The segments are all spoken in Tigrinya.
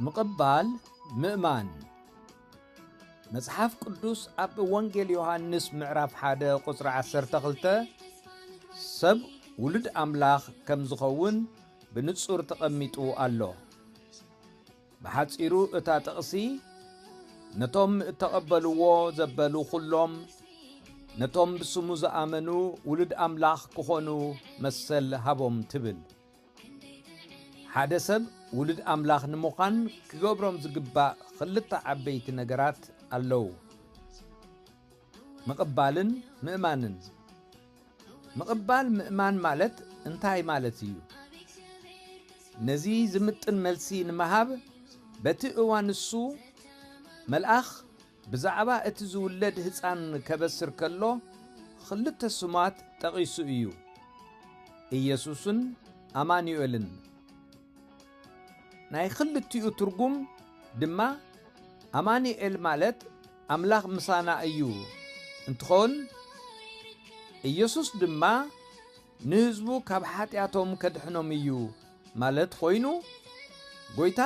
ምቕባል ምእማን መጽሓፍ ቅዱስ ኣብ ወንጌል ዮሃንስ ምዕራፍ 1 ቁጽሪ 12 ሰብ ውሉድ ኣምላኽ ከም ዝኸውን ብንጹር ተቐሚጡ ኣሎ። ብሓጺሩ እታ ጥቕሲ ነቶም እተቐበልዎ ዘበሉ ዅሎም ነቶም ብስሙ ዝኣመኑ ውሉድ ኣምላኽ ክዀኑ መሰል ሃቦም ትብል። ሓደ ሰብ ውሉድ ኣምላኽ ንምዃን ክገብሮም ዝግባእ ኽልተ ዓበይቲ ነገራት ኣለዉ። ምቕባልን ምእማንን ምቕባል ምእማን ማለት እንታይ ማለት እዩ? ነዚ ዝምጥን መልሲ ንምሃብ በቲ እዋን ንሱ መልኣኽ ብዛዕባ እቲ ዝውለድ ህፃን ከበስር ከሎ ክልተ ስማት ጠቒሱ እዩ ኢየሱስን ኣማኑኤልን ናይ ክልቲኡ ትርጉም ድማ ኣማኑኤል ማለት ኣምላኽ ምሳና እዩ እንትኾን ኢየሱስ ድማ ንህዝቡ ካብ ሓጢኣቶም ከድሕኖም እዩ ማለት ኾይኑ ጎይታ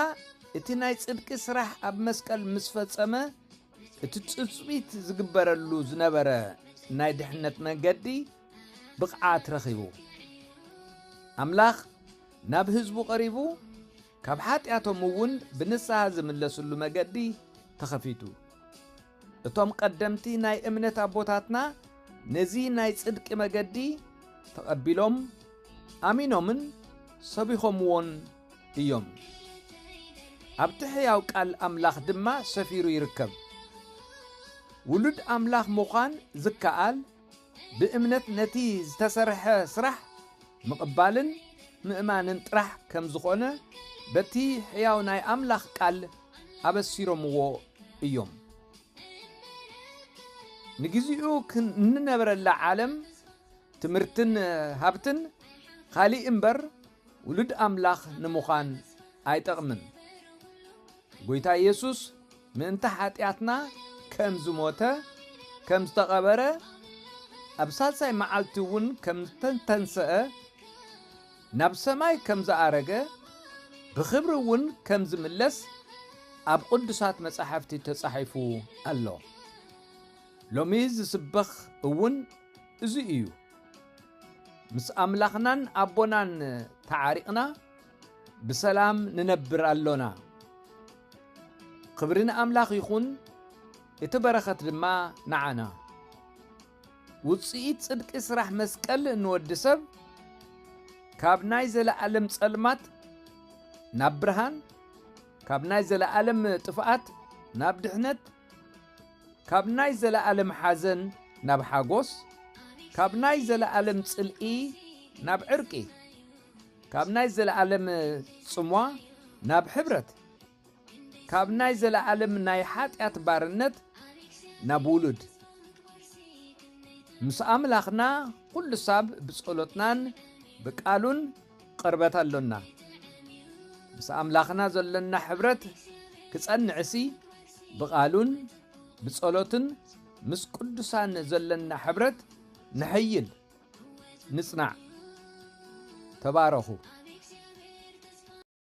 እቲ ናይ ጽድቂ ስራሕ ኣብ መስቀል ምስ ፈጸመ እቲ ጽጽቢት ዝግበረሉ ዝነበረ ናይ ድሕነት መንገዲ ብቕዓት ረኺቡ ኣምላኽ ናብ ህዝቡ ቐሪቡ ካብ ሓጢኣቶም እውን ብንስሃ ዝምለስሉ መገዲ ተኸፊቱ። እቶም ቀደምቲ ናይ እምነት ኣቦታትና ነዚ ናይ ጽድቂ መገዲ ተቐቢሎም ኣሚኖምን ሰቢኾምዎን እዮም። ኣብቲ ሕያው ቃል ኣምላኽ ድማ ሰፊሩ ይርከብ። ውሉድ ኣምላኽ ምዃን ዝከኣል ብእምነት ነቲ ዝተሰርሐ ስራሕ ምቕባልን ምእማንን ጥራሕ ከም ዝኾነ በቲ ሕያው ናይ ኣምላኽ ቃል ኣበሲሮምዎ እዮም። ንግዚኡ እንነብረላ ዓለም ትምህርትን ሃብትን ኻሊእ እምበር ውሉድ ኣምላኽ ንምዃን ኣይጠቕምን። ጎይታ ኢየሱስ ምእንቲ ሓጢኣትና ከም ዝሞተ ከም ዝተቐበረ ኣብ ሳልሳይ መዓልቲ እውን ከም ዝተተንሰአ ናብ ሰማይ ከም ዝኣረገ ብኽብሪ እውን ከም ዝምለስ ኣብ ቅዱሳት መጻሕፍቲ ተጻሒፉ ኣሎ። ሎሚ ዝስበኽ እውን እዚ እዩ። ምስ ኣምላኽናን ኣቦናን ተዓሪቕና ብሰላም ንነብር ኣሎና። ክብሪ ንኣምላኽ ይኹን፣ እቲ በረኸት ድማ ንዓና። ውጽኢት ጽድቂ ስራሕ መስቀል ንወዲ ሰብ ካብ ናይ ዘለኣለም ጸልማት ናብ ብርሃን፣ ካብ ናይ ዘለኣለም ጥፍኣት ናብ ድሕነት፣ ካብ ናይ ዘለኣለም ሓዘን ናብ ሓጎስ፣ ካብ ናይ ዘለኣለም ጽልኢ ናብ ዕርቂ፣ ካብ ናይ ዘለኣለም ጽምዋ ናብ ሕብረት፣ ካብ ናይ ዘለኣለም ናይ ሓጢኣት ባርነት ናብ ውሉድ ምስ ኣምላኽና ኩሉ ሳብ ብጸሎትናን ብቃሉን ቅርበት ኣሎና። ምስ ኣምላኽና ዘሎና ሕብረት ክጸንዕሲ ብቃሉን ብጸሎትን ምስ ቅዱሳን ዘሎና ሕብረት ነሐይል። ንጽናዕ ተባረኹ።